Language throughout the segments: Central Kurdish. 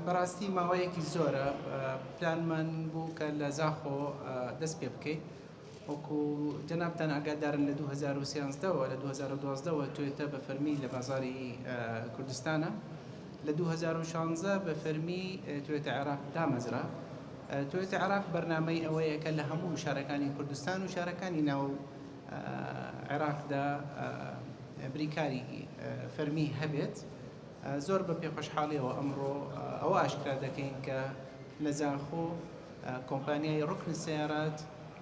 بەڕاستی ماوەیەکی زۆرە پلانمان بوو کە لە زاخۆ دەست پێ بکەین وەکو جەنابان ئاگادارن لە 2013ەوە لە 2012ەوە توێتە بە فەرمی لە بازاری کوردستانە لە دوو هەزار و شانزە بە فەرمی توێتە عێراق دامەزرا. توێتە عێراق بەرنامەی ئەوەیە کە لە هەموو شارەکانی کوردستان و شارەکانی ناو عێراقدا بریکاری فەرمی هەبێت. زۆر بە پێخۆشحاڵیەوە ئەمڕۆ ئەوە ئاشکرا دەکەین کە لە زاخۆ کۆمپانیای ڕوکن سەیارات،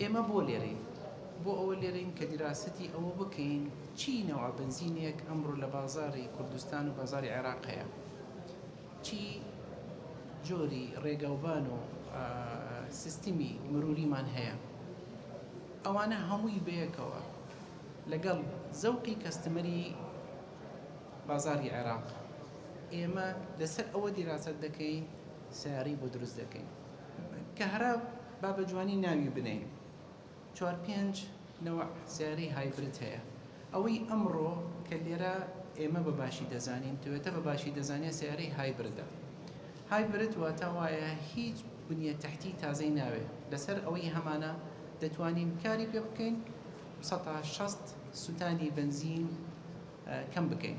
ئێمە بۆ لێرەین؟ بۆ ئەوە لێرەین کە دیراسەتی ئەوە بکەین چی نەوعە بەنزینێک ئەمڕۆ لە بازاڕی کوردستان و بازاڕی عێراق هەیە، چی جۆری ڕێگاوبان و سیستمی مروریمان هەیە، ئەوانە هەمووی بەیەکەوە لەگەڵ زەوقی کەستمەری بازاڕی عێراق ئێمە لەسەر ئەوە دیراسەت دەکەین سیارەی بۆ دروست دەکەین کە هەرە با بە جوانی ناوی بنێین چوار پێنج نەوع سەیارەی هایبرد هەیە ئەوەی ئەمڕۆ کە لێرە ئێمە بە باشی دەزانین توێتە بە باشی دەزانێت سەیارەی هایبردە هایبرد واتە وایە هیچ بنیە تحتی تازەی ناوێ لەسەر ئەوەی هەمانە دەتوانین کاری پێ بکەین 1600 سووتانی بنزین کەم بکەین